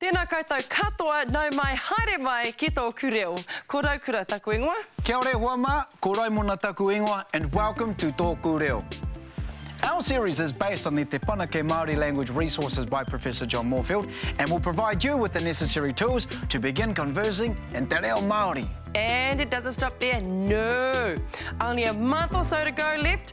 Tēnā koutou katoa, nau mai, haere mai ki tōku reo. Ko Raukura taku ingoa. Kia ore hoa mā, ko Raimona taku ingoa and welcome to Tōku Reo. Our series is based on the Te Whanake Māori Language Resources by Professor John Moorfield and will provide you with the necessary tools to begin conversing in te reo Māori. And it doesn't stop there, no! Only a month or so to go left,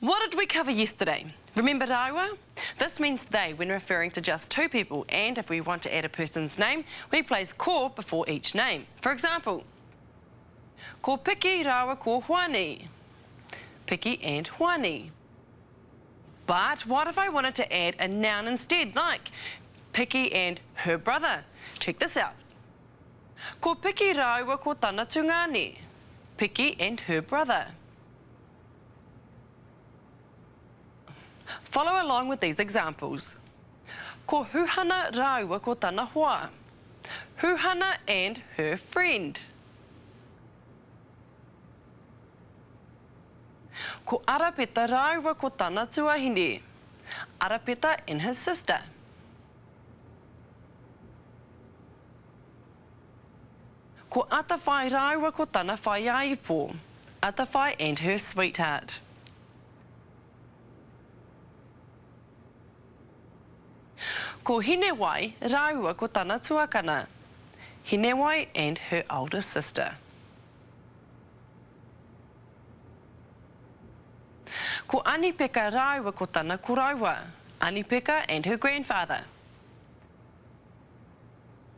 What did we cover yesterday? Remember rāua? This means they when referring to just two people and if we want to add a person's name, we place ko before each name. For example, Ko Piki rāua ko Hoani. Piki and Hoani. But what if I wanted to add a noun instead like Piki and her brother? Check this out. Ko Piki rāua ko tana tungāne. Piki and her brother. Follow along with these examples Ko Huhana rāua ko tana hoa Huhana and her friend Ko Arapeta rāua ko tana tuahine Arapeta and his sister Ko Atawhai rāua ko tana whaiāipo. Atawhai and her sweetheart. Ko Hinewai rāua ko tana tuakana. Hinewai and her older sister. Ko Anipeka rāua ko tana koroua. Anipeka and her grandfather.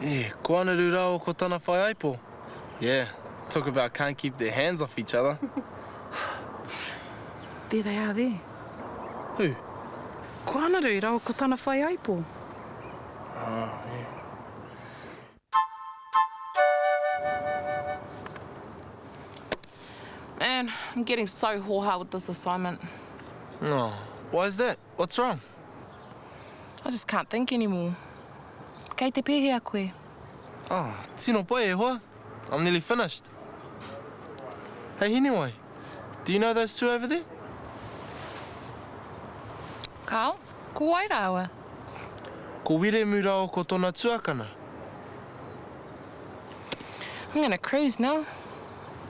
Yeah, ko Anaru Rao ko tana whaiaipo. Yeah, talk about can't keep their hands off each other. There they are there. Who? Ko Anaru Rao ko tana whaiaipo. Ah, yeah. Man, I'm getting so hōhā with this assignment. Oh, why's that? What's wrong? I just can't think anymore. Kei te pēhea koe? Oh, tino pai e hoa. I'm nearly finished. Hei Hinewai, do you know those two over there? Carl, ko wai rāua? Ko Wiremu rāua ko tona tuakana. I'm gonna cruise now.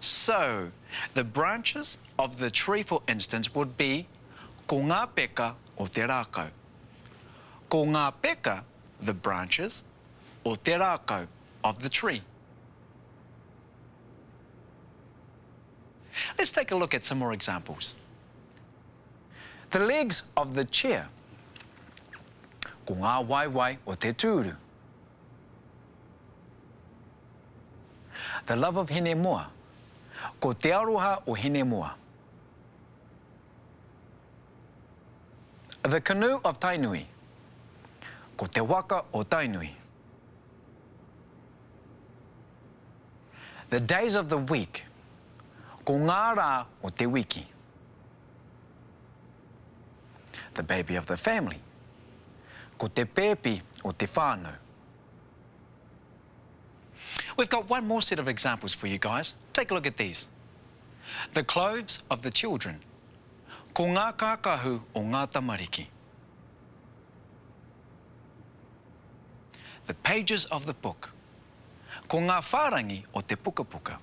So, the branches of the tree for instance would be Ko ngā peka o te rākau. Ko ngā peka, the branches, o te rākau, of the tree. Let's take a look at some more examples. The legs of the chair. Ko ngā waewae o te tūru. The love of Hinemoa Ko te aroha o Hinemoa. The canoe of Tainui Ko te waka o Tainui. The days of the week Ko ngā rā o te wiki. The baby of the family Ko te pēpi o te whānau. We've got one more set of examples for you guys, take a look at these. The clothes of the children, ko ngā kākahu o ngā tamariki. The pages of the book, ko ngā whārangi o te pukapuka.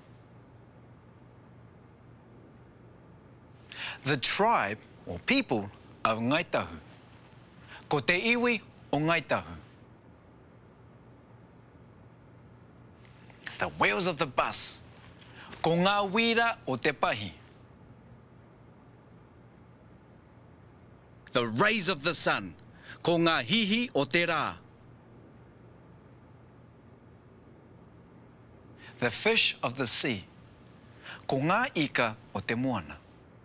The tribe or people of Ngāi Tahu, ko te iwi o Ngāi Tahu. The wheels of the bus Ko ngā wīra o te pahi. The rays of the sun Ko ngā hihi o te rā. The fish of the sea Ko ngā ika o te moana.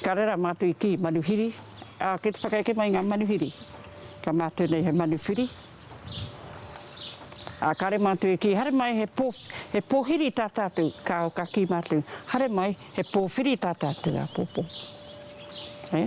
Ka rera mātou i kī, manuhiri, ā, kei te whakaeke mai ngā manuhiri, ka mātou nei he manuwhiri. Ā, kāre mātou e kī, haere mai he pō, he pōhiri tā tātou, kāo, ka kī mātou, haere mai he pōwhiri tā tātou āpōpō. Hē?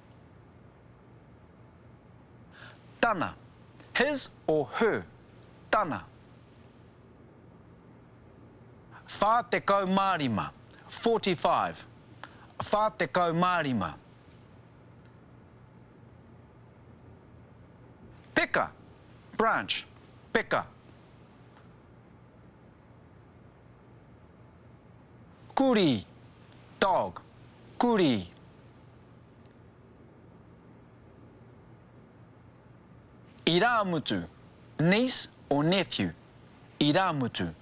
Tana, his or her, tana. 45, forty-five, whā tekau mā rima. Peka, branch, peka. Kurī, dog, kurī. Irāmutu, niece or nephew, irāmutu.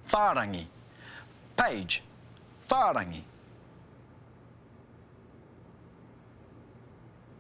Whārangi, page, whārangi.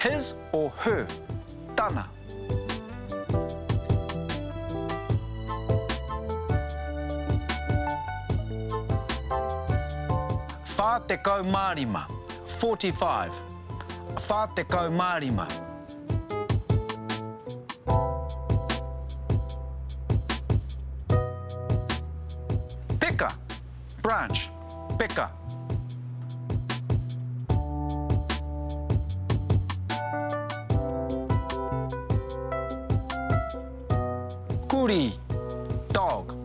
His or her, tana. Whā tekau mā rima, forty-five. Whā tekau mā rima. Branch, peka. Kurī, dog,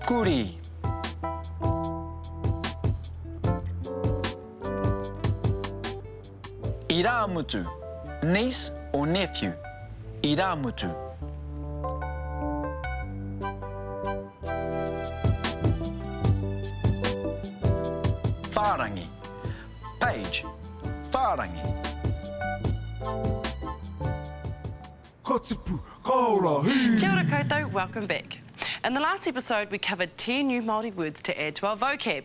kurī. Irāmutu, niece or nephew, irāmutu. Whārangi, page, whārangi. Ka tipu, ka ora, hī! Kia ora koutou, welcome back. In the last episode we covered 10 new Māori words to add to our vocab.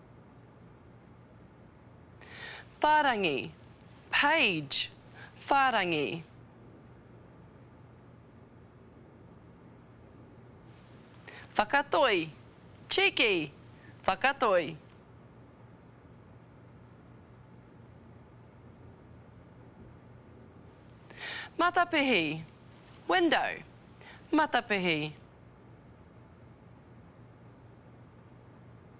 Whārangi, page, whārangi. Whakatoi, cheeky, whakatoi. Matapihi, window, matapihi.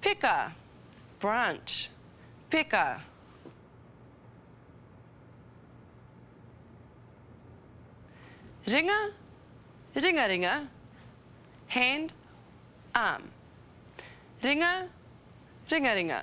Peka, branch, peka. Ringa, ringaringa, hand, arm. Ringa, ringaringa.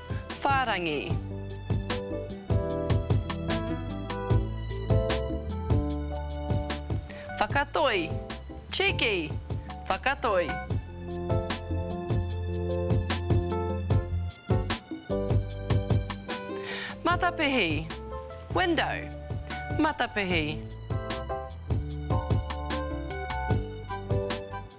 whārangi. Whakatoi, cheeky, whakatoi. Matapihi, window, matapihi.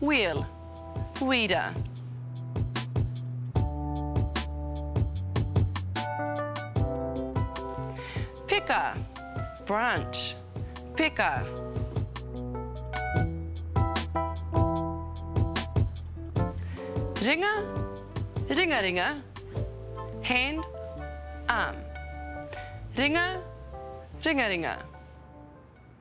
Wheel, wira. Peka, branch, peka. Ringa, ringa ringa, hand, arm. Ringa, ringa ringa.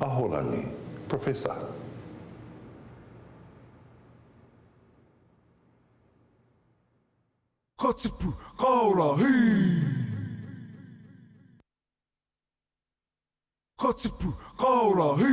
Ahorangi, Professor. Ka tipu, ka ora, hī! Ka tipu, ka ora, hī!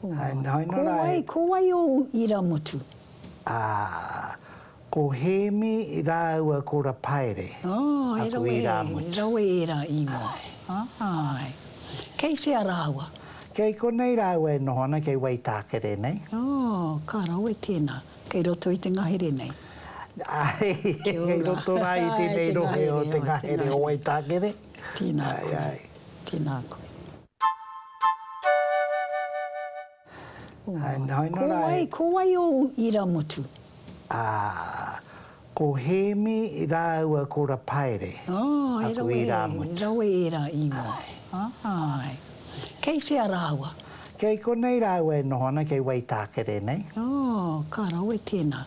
Ko wai, ko wai ōu iramutu? Ā, ko Hēmi rāua ko Rapaere aku irāmutu. He rawe ērā ingoa. Āe. Kei whea rāua? Kei konei rāua e noho ana, kei Waitākere nei. Ā, ka rawe tēnā. Kei roto i te ngahere nei? Āe, kei roto rā i tēnei rohe o te ngahere o Waitākere. Tēnā koe. Tēnā koe. Ko wai, ko wai ōu iramutu? Ā, ko Hēmi rāua ko Rapaere aku irāmutu. He rawe ērā ingoa. Āe. Kei whea rāua? Kei konei rāua e noho ana, kei Waitākere nei. Ō, ka rawe tēnā.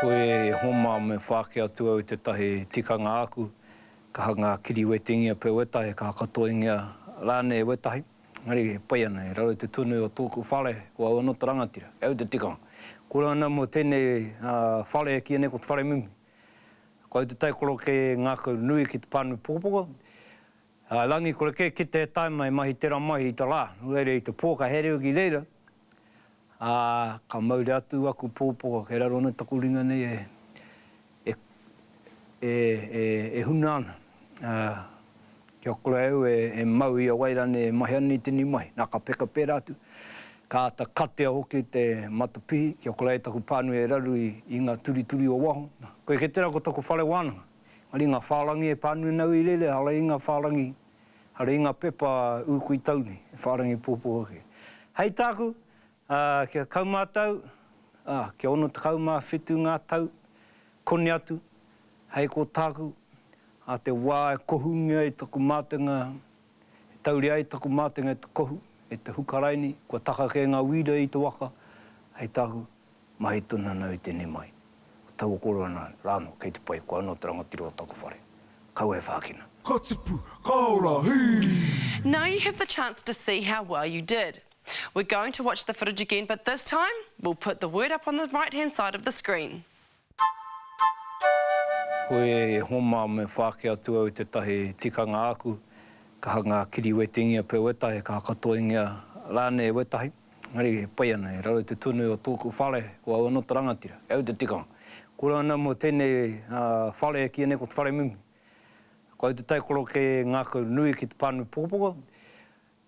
Ko e Homa me whāki atu au i tētahi tikanga āku, ka hanga kiriwetingia pea wētahi, ka hakatoingia rānei wētahi, engari e pai ana, i raro i te tunu o tōku whare, ko au anō te rangatira, kei au te tikanga. Kore ana mō tēnei whare e kīia nei ko te whare mimi. Ko au te taikorokē ngākau nui ki te pānui pukapuka, Ā, rangi kore kē ki te tae mai mahi tera mahi i ta ra, no reira i te po ka herea ki reira, ā, ka mauria atu aku popo kei raro nei taku ringa nei e, e, e, e, e huna ana, ā, kia kore au e, e mau i a wai ranei e mahi ana i tenei mahi. Na, ka peka pera atu, ka ata katea hoki te matapihi kia kore ai taku panui e raru i, i nga turituri o waho. Na, koe ke tera ko taku whare wananga. Ari nga wharangi e panunau i rere, ara i nga wharangi, ara i nga pepa uku i tau nei, e wharangi popo ake. Hei taku, kia kaumatau, kia ono tekau ma whitu nga tau, koni atu, hei ko taku, a te wa e kohungia i taku matenga, E tauri ai taku mātenga e te kohu, e te hukaraini, kua taka kē ngā wīra i te waka, hei tāku, mahi tonu anō i tēnei mai. Ko taua koroua rānō kei te pai, ko anō te rangatira o taku whare. Kaua e whākina. Ka tipu, ka ora, hī! Now you have the chance to see how well you did. We're going to watch the footage again but this time we'll put the word up on the right hand side of the screen. Koe e Iehoma me whāki atu au i tētahi tikanga āku, ka hanga kiriwetingia pea wētahi, ka hakatoingia rānei wētahi, engari e pai ana, i raro i te tunu o tōku whare, ko au anō te rangatira, kei au te tikanga. Kore ana mō tēnei whare e kīia nei ko te whare mimi. Ko au te taikorokē ngākau nui ki te pānui pukapuka,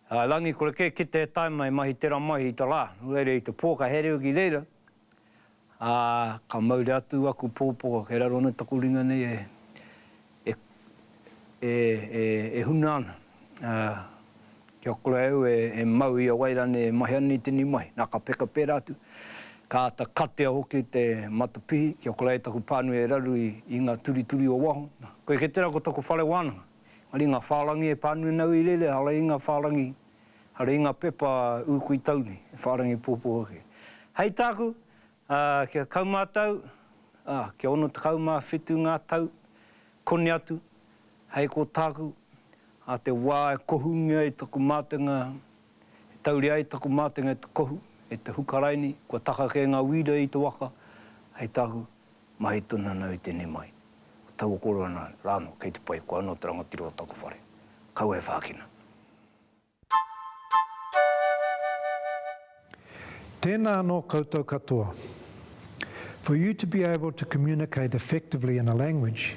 Ā, rangi kore kē ki te tae mai mahi tera mahi i ta ra, no reira i te po ka here au ki reira, ā, ka mauri atu aku popo kei raro nei taku ringa nei e, e, e, e, e huna ana, ā, kia kore au e, e mau i a wai ranei e mahi ana i tenei mahi. Na, ka peka pera atu, ka ata katea hoki te matapihi kia kore ai taku panui e raru i, i nga turituri o waho. Na, koe ke tera ko taku whare wananga. Ari nga wharangi e Panuinau i rere, ara i nga wharangi, ara i nga pepa u kui tau nei, e wharangi popo ake. Hei taku, a, kia kaumatau, a, kia ono tekau ma whitu nga tau, koni atu, hei ko taku, a te wa e kohungia ai taku matenga, e tauria ai taku matenga e te kohu, e te hukaraini, kua taka ke nga wira i te waka, hei taku, Mahi tonu ana au i tenei mai. Ko taua koro ana la ano, kei te pai, koa ano te rangatira o taku whare. Kaua e whakina. Tēnā anō koutou katoa. For you to be able to communicate effectively in a language,